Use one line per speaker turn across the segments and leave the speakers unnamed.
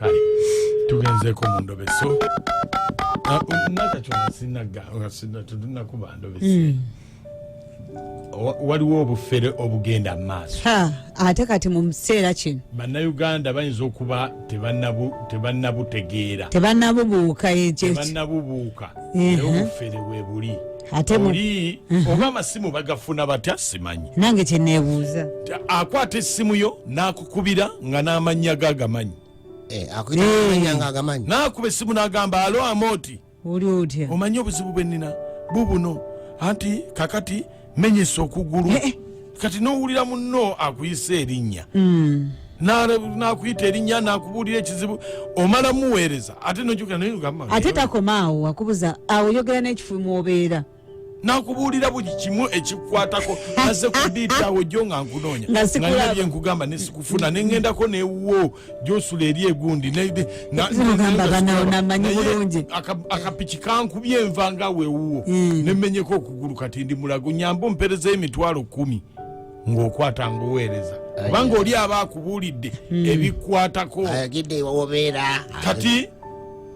kale tugenzeeko mu ndobeso ah, um, nakakyo ngasinatunakuba ndobesi hmm. waliwo obufere obugenda mu maaso ate kati mu
kiseera kino bannayuganda bayinza
okuba tebannabutegeera tebannabubuuka
tebannabubuuka
obufere webuli ate oli oba amasimu bagafuna batya simanyi nange kyenebuuza
akwata
essimu yo nakukubira nga n'amannya ge agamanyi eh, eh. nakuba essimu nagamba alo amooti oli otya
omanyi obuzibu bwe nina
bubuno anti kakati menyesa okugulu eh, kati nowulira munno akuyisa erinnya mm. nakuyita erinnya nakubuulira ekizibu omala muweereza ate nojukira naye ogamba ate takomaawo
akubuza awo yogera n'ekifu mwobeera nakubuulira
buli kimu ekikwatako aze kudiita awo jjo nga nkunoonya nabye nkugamba nesikufuna nengendako newuwo gyosula eri egundi nogamba banawo namanyi bulungi akapiki kankubye enva nga wewuwo hmm. nemenyeko okugulu kati ndi mulago nyamba ompereza emitwalo kumi ng'okwata ng'oweereza kubanga oli aba akubuulidde hmm. ebikwatako kati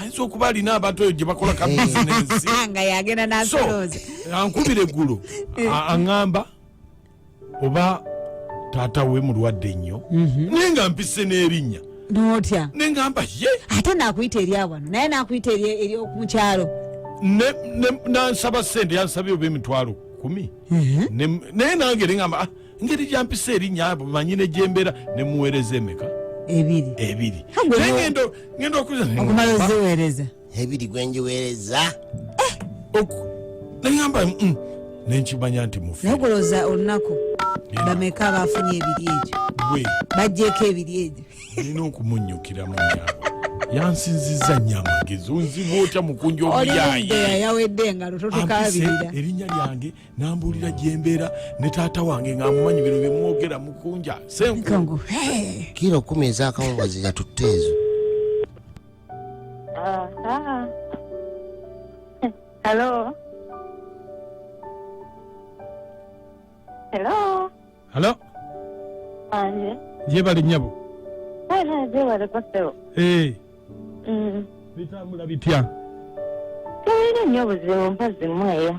ayinza okuba
alina abantu eyo gyebakola ka eh. bizinensi nga yagenda
nasolooza ankubira eggulo
eh. aŋamba oba taata we mulwadde nnyo mhm. naye nga mpise n'erinnya notya naye
ngamba ye
ate nakuyita
eryawano naye nakuyita eryomukyalo
nansaba sente yansabye oba emitwalo kumi mhm. naye nange neamba ah, ngeri gyampisa erinnya abo manyi ne gyembeera ne muweereza emeka ebiri ebiri naye ngenda ngenda okuza okumala
oziweereza ebiri gwe
njiweereza eh!
nengamba mm, nenkimanya nti mufi naye kulowooza olunaku
bameka baafunye ebiri egyo gwe bajjeeko ebiri egyo nina okumunnyukiramu
nyabo yansinziza nya amagezi onziba otya mukunja omuyaayi
yawedde nga lutotukabirira erinnya lyange
nambuulira gyembeera ne taata wange ng'amumanyi bino bye mwogera mukunja senkungu kiro
kumi ezakawungazi yatutte ezo halo
halo halo
anje gyebali
nyabo gyebali
kosebo eh. mm.
bitambula bitya
tebiri nnyo buzibu mpazimweyo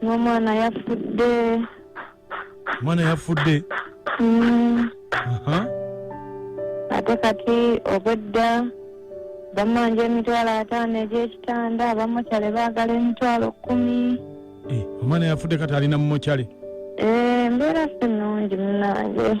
ng'omwana yafudde
omwana yafudde Mm, Aha.
ate kati obwedda bamanja emitwalo ataano egy'ekitanda abamukyale baagala emitwalo kkumi Eh, omwana
yafudde kati alina mumokyale Eh, embeera
si nnungi munange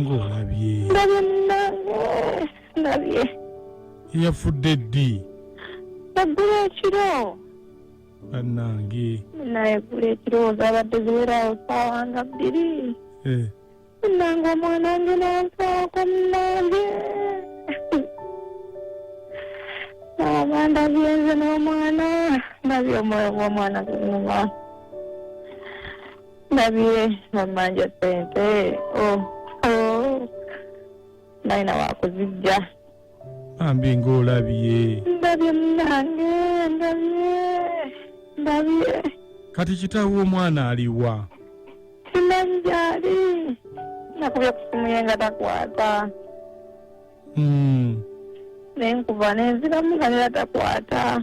ng'olabye ndabye
munange ndabye
yafudde ddi eggulu
ekiro
bannange naye eggulu
ekiro zabadde ziweraawo saawa nga bbiri eh, munange omwana nge nansaako munange naaba ndabye nze n'omwana ndabye omwoyo gw'omwana gunyuma ndabye namanja sente oh, oh. nayina wakuzijja bambi
ngaolabye ndabye
munange ndabye
ndabye kati kitaawe
omwana
aliwa simanyi
gyali nakubye ku simu ye nga takwata mm. nenkuba nenziramu nga nera takwata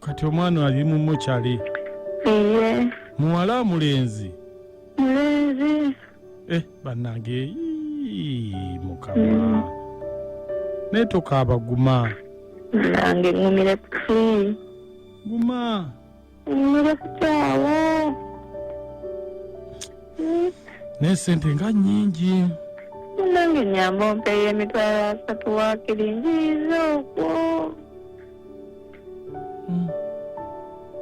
kati omwana ali mu mochali iye muwala mulenzi mulenzi
eh
banange ii, mukama naye tokaaba guma nange
ngumire kuki guma
ngumire
kukyawo
naye sente nga nyingi nange
nyamba ompeyo emitwalo asatu wakiri njiiza okwo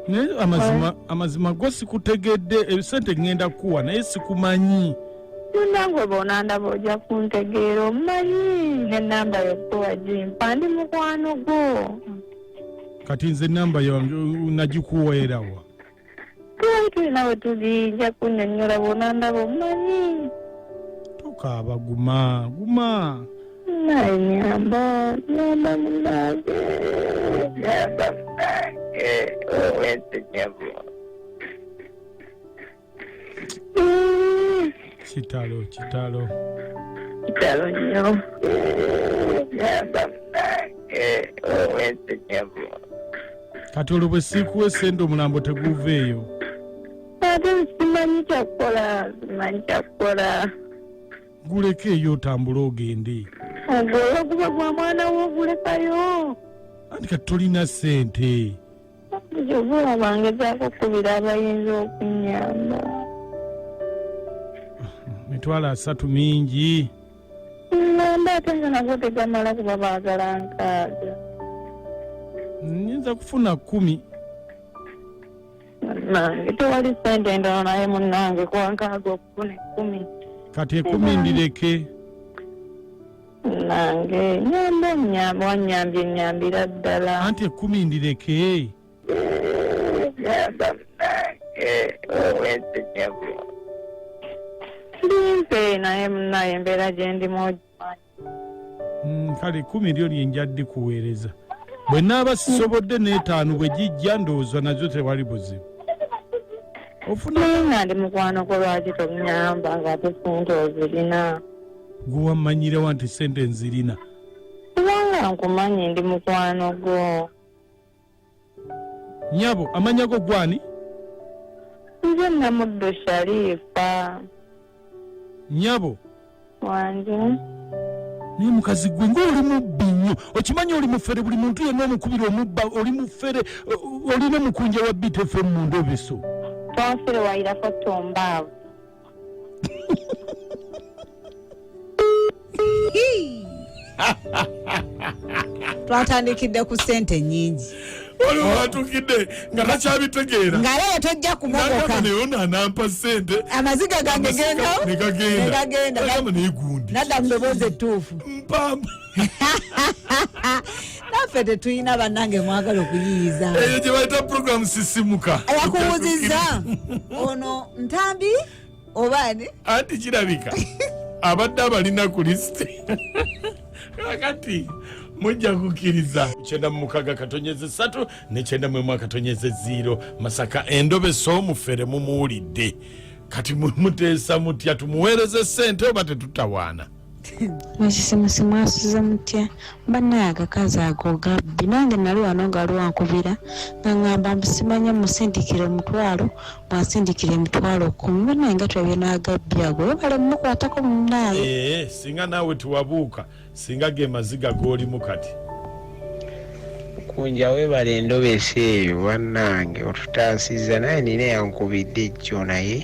naye amazima amazima go sikutegedde ebisente eh, ŋŋenda kukuwa naye sikumanyi nangwe
bwonandaba ojja kuntegeera omumanyi nenamba yokuwa gimpa ndi mukwano gwo kati
nze enamba yange nagikuweerawa tuli
nawe tuli nja kunyonyola bona ndaba omumanyi tokaaba
guma guma naye
nyamba nyamba munange nyamba munange owete nyabo
kitalo kitalo
kitalo nyo nyamba munange owete nyabo kati
olwo bwe siikuwa esente omulambo teguuveeyo ate
simanyi kyakukola simanyi kyakukola guleke
eyo otambule ogende ogwoyo guba
gwa mwana wo ogulekayo anti kati
tolina sente jovula
bangezaako okukubira abayinza okunyamba
mitwalo asatu mingi ŋŋamba
ate nga nago tegamala kuba baagala
nkaaga nyinza kufuna kkumi nange
tewali sente endala naye munnange kwankaaga okufuna ekkumi kati ekumi
ndireke
nange nyamba onyamba wanyambye nyambira ddala anti ekumi ndireke limpe naye munaye embeera gyendimu ogimanyi Mm, kale kumi
lyo lyenja dikuweereza bwe naaba sisobodde n'etaano bwe gijja ndowooza nazo tewali buzibu ofuna naye
nga ndi mukwano gwo lwaki tomunyamba ng'ate sente ozirina gwe
wammanyirewa nti sente nzirina kubanga
nkumanyi ndi mukwano gwo
nyabo amanya go gwani
nze namuddu sharifa
nyabo
wange
naye mukazi gwe ngaoli mubbi nnyo okimanyi oli mufere buli muntu yenna omukubira omubba oli mufere olina omukunja wa btfm mu ndobeso twafere
wayirako tombaavu
twatandikidde ku sente nyingi waliwo
watukidde nga takyabitegeera nga leero tojja
kumogoka naye ono anampa
sente amaziga gange
genda negagenda
nadamu neboozi
ettuufu mpamba naffe tetulina bannange mwagala okuyiyiza eyo gye bayita
puroguramu sisimuka yakuwuziza
ono ntambi obaani anti kirabika
abadde abalina ku lisiti kakati mujja kukkiriza kyenda mu mukaga katonyeze satu nekyenda mwemu akatonyeze ziiro masaka endobe soomufere mumuwulidde kati muteesa mutya tumuweereze sente oba tetutawaana Musisimusi
mwasuze mutya banaye agakazi ago gabbi nange nali wano nga waliwo ankubira nga ngamba mbusimanya musindikire omutwalo bwansindikira emitwalo kumi banaye nga twebina agabbi ago webale mumukwatako munaye eh, eh, singa naawe
tiwabuuka singa ge maziga golimu kati kunja
webale endobesa eyo banange otutaasiza naye nina yankubidde ejjo naye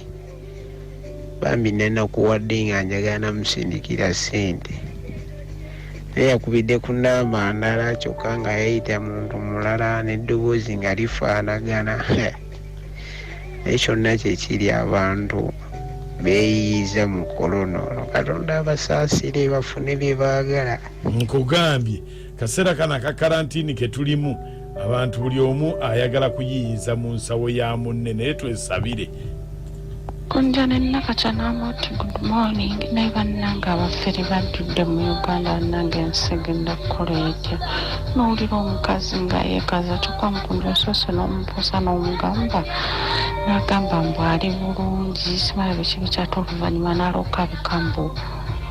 bambi nenakuwadde nga njagala namusindikira sente naye yakubidde ku namba ndala kyokka nga yayita muntu mulala n'eddoboozi nga lifaanagana naye kyonna kyekiri abantu beeyiyiza mu kolono katonda abasaasire bafune bye baagala nkugambye
Kaseera kano aka karantini ke tulimu abantu buli omu ayagala kuyiyiza mu nsawo ya munne naye twesabire.
Kunja ne Nakaca n'amuti good morning naye bannange abafere bajjudde mu Uganda bannange ensi egenda kukola etya n'owulira omukazi nga yeekaza kyokka mukunja osoose n'omubuusa n'omugamba n'agamba mbu ali bulungi simanyi biki bikyata oluvannyuma n'alokabika mbu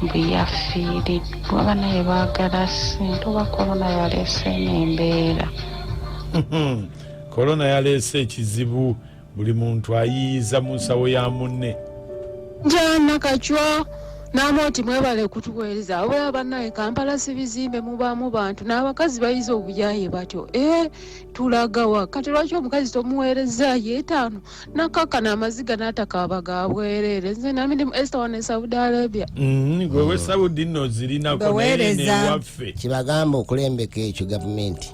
mbu yafiiridde Kuba banaye baagala sente oba korona yaleese eno embeera.
Korona yaleese ekizibu buli muntu ayiyiza mu nsawo ya munne. Njana
kacwa n'amooti mwebale kutuweereza wabula bannaye kampala si bizimbe mubaamu bantu n'abakazi bayize obuyaye batyo e eh, tulagawa kati lwaki omukazi tomuweereza yeetaano nakakana amaziga natakaba ga bwerere nze nami ndi mu esta wano e saudi arabia mm, gwe we
saudi no zirinako naye newaffe kibagamba
okulembeka ekyo gavumenti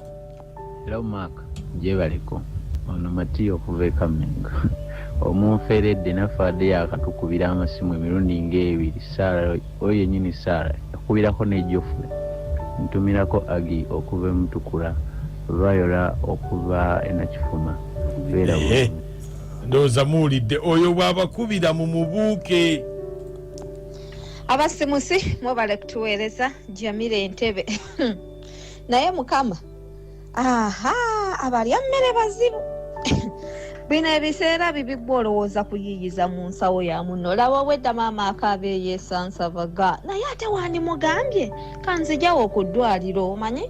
era
omwaka gyebaleko ono matiya okuva ekamenga omunferedde naffe adde yakatukubira amasimu emirundi ngaebiri sara oyo yenyini sara yakubirako nejofule ntumirako agi okuva emutukula Viola okuva e Nakifuma. Beera bulungi.
Ndowooza muwulidde oyo bw'abakubira mu mubuuke.
Abasimusi mwebale kutuweereza Jamila Entebbe. Naye Mukama, aha abalya mmere bazibu. bino ebiseera bibiggwa olowooza kuyiiyiza mu nsawo ya muno laba obwedda maama akaaba eyeesansabaga naye ate wandimugambye kanzijawo okuddwaliro omanyi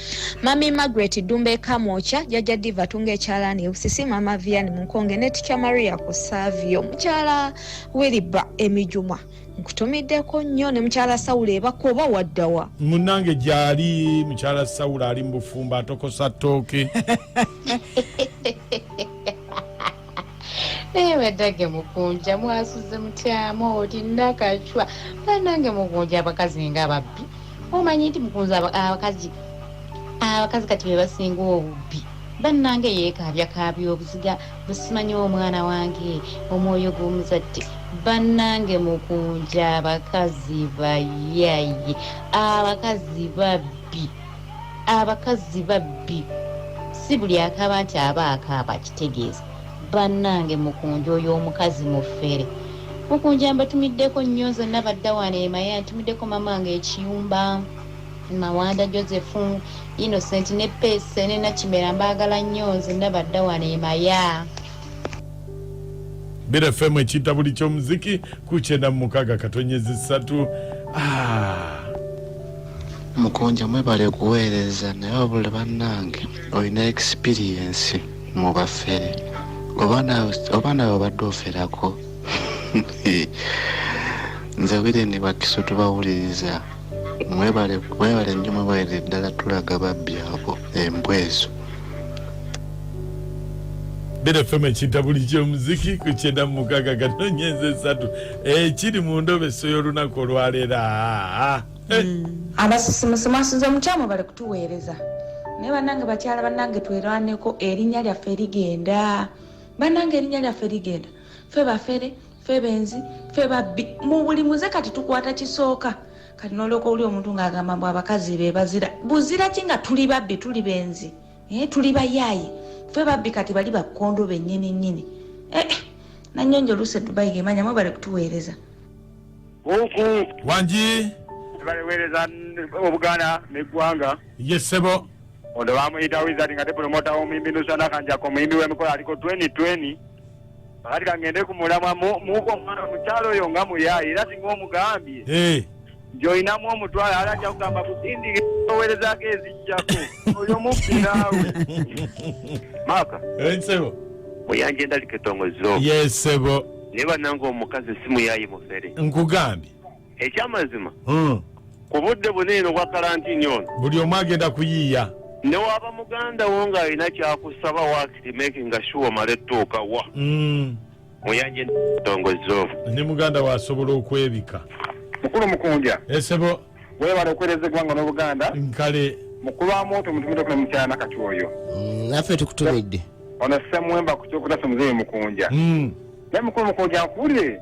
Mami Margaret Ddumba Ekamwokya, Jajja Diva Tunga Ekyalaani Ebusisi, Mama Vian Munkonge ne Ticha Maria Kusavio, Mukyala Wiliba Emijuma nkutumiddeko nnyo ne mukyala sawula ebako oba waddawa munange gyali
mukyala sawula ali mu bufumbo atokosa ttooke
naye badage mukunja mwasuze mutyamu oti nakacwa banange mukunja abakazi nga ababbi omanyi nti mukunja abakazi abakazi kati bebasinga obubbi bannange yeekaabyakaabya obuziga busimanyi omwana wange omwoyo gw'omuzadde bannange mukunja abakazi bayaye abakazi babbi abakazzi babbi si buli akaaba nti aba akaaba kitegeeza bannange mukunja oyo omukazi mufere mukunja mbatumiddeko nnyo nze nabadda wano emaya ntumiddeko mama nga ekiyumba mawanda joseph innocent ne pese ne nakimera mbaagala nnyo nze nabadda wano emaya
Bira FM ekiyita buli ky'omuziki ku kyenda mu mukaaga katonyezi ssatu ah.
mukunja mwebale kuweereza naye wabula bannange olina ekisipiriyensi mu bafere oba nawe obadde oferako nze wire ne bakiso tubawuliriza mwebale mwebale nnyo mwebalire ddala tulaga babbi abo embwa ezo
bera fm ekinta buli kyomuziki ku kyenda mu mukaga kano nyenza esatu ekiri eh, mu ndobe so y'olunaku olwaleero ah, eh. hmm.
abasisimusi mwasinza omukyamu bali kutuweereza naye banange bakyala banange twerwaneko erinnya lyaffe ligenda banange erinnya lyaffe ligenda fe bafere fe benzi fe babbi mu buli muze kati tukwata kisooka kati nolyoka oli omuntu ng'agamba mbu abakazi be bazira buzira ki nga tuli babbi tuli benzi eh, tuli bayaaye fe babbi kati bali bakkondo bennyini nnyini eh, eh nanyonjo oluusi edubayi gemanya mwebale kutuweereza buuku
wangi baleweereza
obuganda neggwanga ye ssebo
Ono bamuyita
Wizard nga tepulomota w'omuyimbi Nusana Kanjako omuyimbi w'emikola aliko 2020 kati kangende ku mulamwa muuka omwana omukyalo oyo nga muyaayi era singa omugambye eh. nti olinamu omutwalo ala ajja kugamba kusindika owerezaako ezijjako oyo mubbiraawe maaka eh, sebo
muyanja endalika
etongozo ye sebo
naye bananga
omukazi simuyaayi mufere
nkugambye
ekyamazima hmm. ku
budde buna eno bwa kalantini ono buli omu agenda kuyiiya
newaba
muganda wo ng'alina kyakusaba wakiri makinga sure omale tuuka wa hmm. muyanje tongozo ne muganda wo
asobola okwebika mukulu
mukunja esebo
webala okuwereza
eggwanga n'obuganda nkale mukulu
wa mwoto
mutumitokuna mukyala nakati oyo hmm, naffe
tukutumidde ono semwemba
ku kyokutasa omuzeeyi mukunja naye mukulu mukunja nkuwulire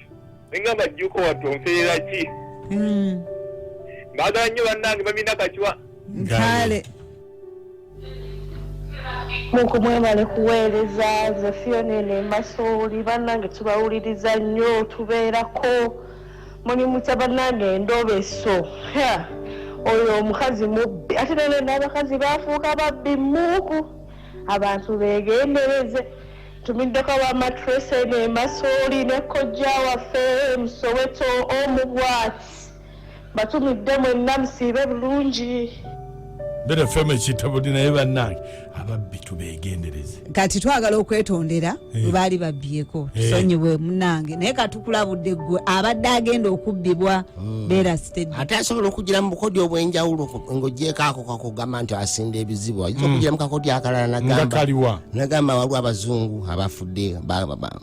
ninga bajjuko watonferera ki mm. bagala nnyo bannange bamina kakiwa kale
muku mwebale kuweereza nze fiona eno emasooli bannange tubawuliriza nnyo tubeerako mulimu kya bannange endobeso oyo omukazi mubbi ate nalenda abakazi bafuuka babbi muuku abantu begendereze Tumiddeko aba matrese ne masooli ne kojja waffe musoweto omubwati batumidde mwenna musiibe bulungi better
fame ekitabuli naye bannange ababbi tubegendereze kati twagala
okwetondera eh. baali babbyeko eh. tusonyiwe munange naye katukulabudde ggwe abadde agenda okubbibwa hmm. beera sitedi ate asobola okugira mu
bukodyo obw'enjawulo ng'ogyeko ako kakugamba nti asinda ebizibu ayinza hmm. okugira mu kakodyo akalala nagamba nagamba waliwo abazungu abafudde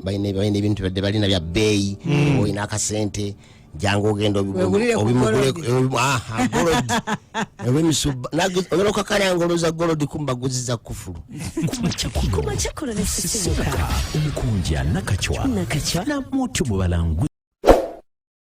balina ebintu badde balina bya bbeeyi hmm. olina akasente jangu ogenda obimugulogenda okakalanga oloza golodi kumba guziza kufulu
omukunja nakacwa namutu mubalangu